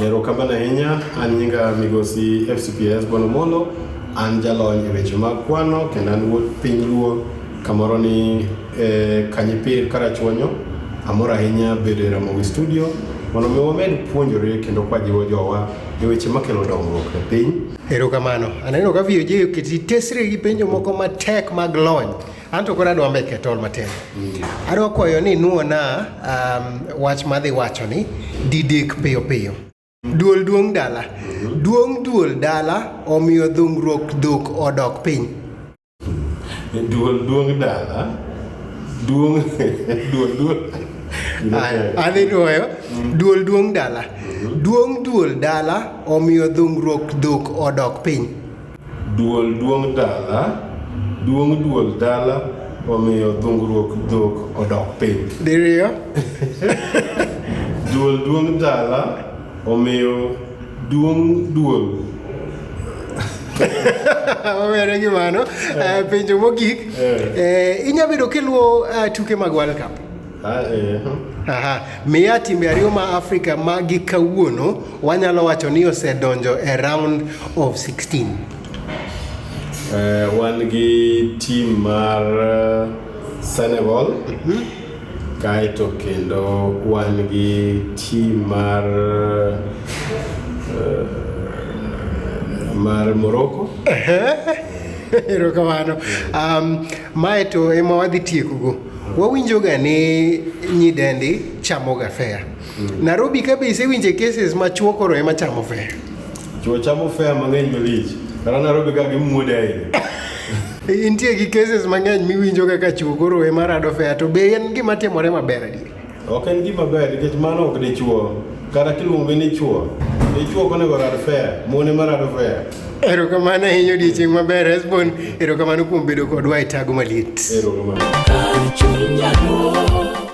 Erokamano ahinya, an nyinga migosi FCPS Bono Molo, an jalony e weche mag kwano kendo an wuod piny Luo kamoro ni eh, Kanyipir Karachuonyo. Amor ahinya bedo e Ramogi Studio mondo mi wamed puonjore kendo kwajiwo jowa e weche makelo dongruok e piny. Erokamano. Aneno ka VOJ oketi tesre gi penjo moko matek mag lony. An to koro adwa make tol matin. Mm. Adwa kwayo ni nuona um, wach madhi wacho ni didek piyo piyo. Duol duong dala. Mm-hmm. Duong duol dala omiyo dhungruok dhok odok piny. Mm. Duol duong dala. Duong duol duol. Adhi duoyo. Mm. Duol duong dala. Mm-hmm. Duong duol dala omiyo dhungruok dhok odok piny. Duol duong' dala, duong' duol dala omiyo dhungruok dhok odok piny. Diriyo. Duol duong' dala omiyo duong' duol wawere gi mano eh, penjo mogik eh. Eh, inya bedo kiluwo eh, tuke mag world cup Aha. Miya timbe ariyo ma Afrika ma gi kawuono wanyalo wacho ni osedonjo e round of 16. Eh, wan gi tim mar eh, Senegal kaeto kendo wan gi tim mar eh, mar Morocco Erokamano. Um, Mae to ema wadhi tiekogo. Wawinjoga ni nyidendi chamoga fea. Mm. Nairobi ka be isewinje cases ma chwo koro ema chamo fea? Chwo chamo fea mang'eny malich. Kara Nairobi ka gimuode ahinya. Intie gi cases mang'eny miwinjoga ka chwo koro ema rado fea to be en gima timore maber adier? Ok en gima ber nikech mano ok dichuo kata kiluonge ni chuo dichuo konego rad fair mone marado fair erokamano ahinya odiechieng' maber hesbon erokamano kuom bedo kodwa e tago maliet erokamano